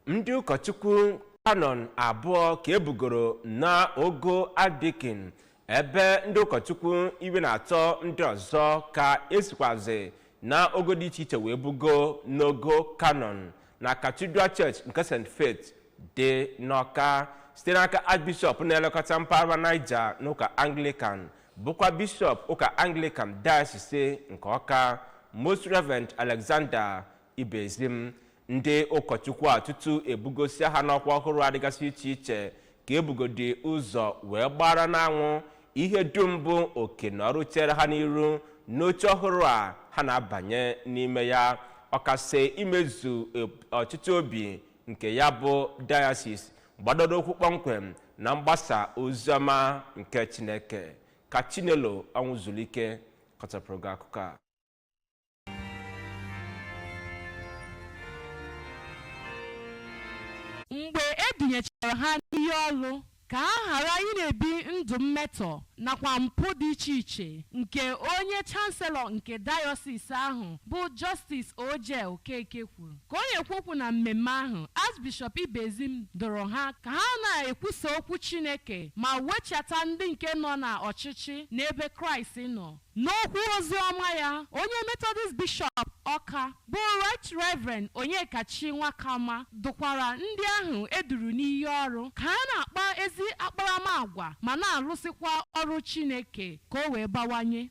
ndị ụkọchukwu kanọn abụọ ka e bugoro na ogo archdeacon ebe ndị ụkọchukwu iri na atọ ndị ọzọ ka e sikwazi na ogo dị iche iche wee bugo n'ogo kanọn na cathedral church nke st faith dị n'ọka site n'aka archbishop na-elekọta mpaghara niger n'ụka anglican bụkwa bishọp ụka anglican diocese nke ọka most reverend alexander ibezim ndị ụkọchukwu a tutu e bugosi ha n'ọkwa ọhụrụ a dịgasị iche iche ka e bugodi ụzọ wee gbara n'anwụ ihe dum bụ oke na ọrụ chere ha n'iru n'oche ọhụrụ a ha na-abanye n'ime ya ọkasị imezu ọchịchọ obi nke ya bụ diocese gbadoro ụkwụ kpọmkwem na mgbasa oziọma nke chineke ka chinelo ọnwụzulike kọchapụrụ gị akụkọ a mgbe e dunyechara ha n'iyi ọlụ ka ha ghara ị na-ebi ndụ mmetọ nakwa mpụ dị iche iche nke onye chanselọ nke dayọsis ahụ bụ Jọstis O.J. Okeke kwuru ka ọ na-ekwu okwu na mmemme ahụ Archbishop Ibezim dụrụ ha ka ha na-ekwusa okwu Chineke ma wechata ndị nke nọ na ọchịchị n'ebe Kraịst nọ N'okwu ozi ọma ya, onye Metọdist Bishọp Ọka bụ Right Reverend Onyekachi Nwakama dụkwara ndị ahụ e duru n'iyi ọrụ ka ha na-akpa ezi akparamagwa ma na-alụsikwa ọrụ Chineke ka o wee bawanye.